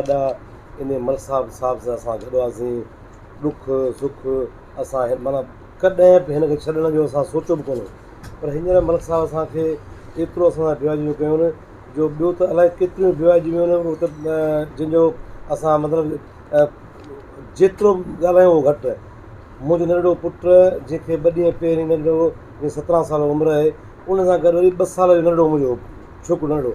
ادا انهي مل صاحب صاحب سان اسان گڏ هئاسين ڏک سک اسان هن معنيٰ ڪڏهن به هن کي ڇڏڻ جو اسان سوچيو به ڪونه پر هينئر ملڪ صاحب اسان کي ايترو اسان سان بيواجيو ڪيو نه جو ٻيو ته الائي ڪيتريون بيواجيون آهن هو ته جن جو اسان مطلب جيترو به ڳالهايون اهو گهٽ آهي منهنجو ننڍڙو پٽ جنهن کي ٻه ڏينهن پهرين ننڍڙو جنهن جي سترهن سال عمر آهي ان سان گڏ وري ٻه سال جو ننڍڙو منهنجو ڇوڪرو ننڍڙو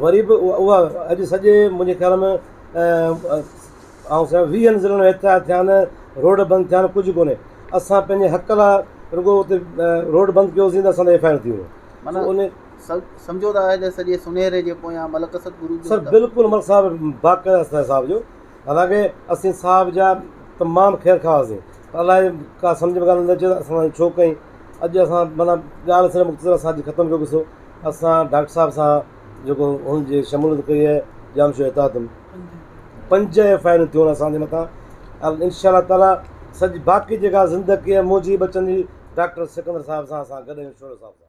وري به اها اڄ سڄي منهنجي خيال ۾ آئون سمجهان ٿو ويهن ضلعن ۾ احتجاج ٿيا آهن روڊ بند ٿيا آهن ڪجهه ڪونهي اسان پنهنجي حق لاء رڳو اتي روڊ بند ڪيوسين ته اسان تي ايف آء آر ٿي ويو معنيٰ ان سمجهو ته آهي ته سڄي سونهري جي پويان ملڪ اسد گرو جو سر بلڪل ملڪ صاحب باقاعده اسان صاحب جو حالانڪه اسين صاحب جا تمام خير خواهه هئاسين پر الائي ڪا سمجهه ۾ ڳالهه نه اچي ته اسان سان ائين ڇو ڪيائين اڄ اسان معنيٰ ڳالهه سڄي مختصر اسان اڄ ختم ڪيو قصو اسان ڊاڪٽر صاحب سان جيڪو ان جي شموليت ڪئي آهي ڄام شوري تادم پنج ايف آء آرون ٿيون آهن اسان جي مٿان ۽ انشاء الله تعالٰي سڄي باقي جيڪا زندگي موجي ٻچن جي ڊاڪٽر سڪندر صاحب سان اسان گڏ آهيون شورو صاحب سان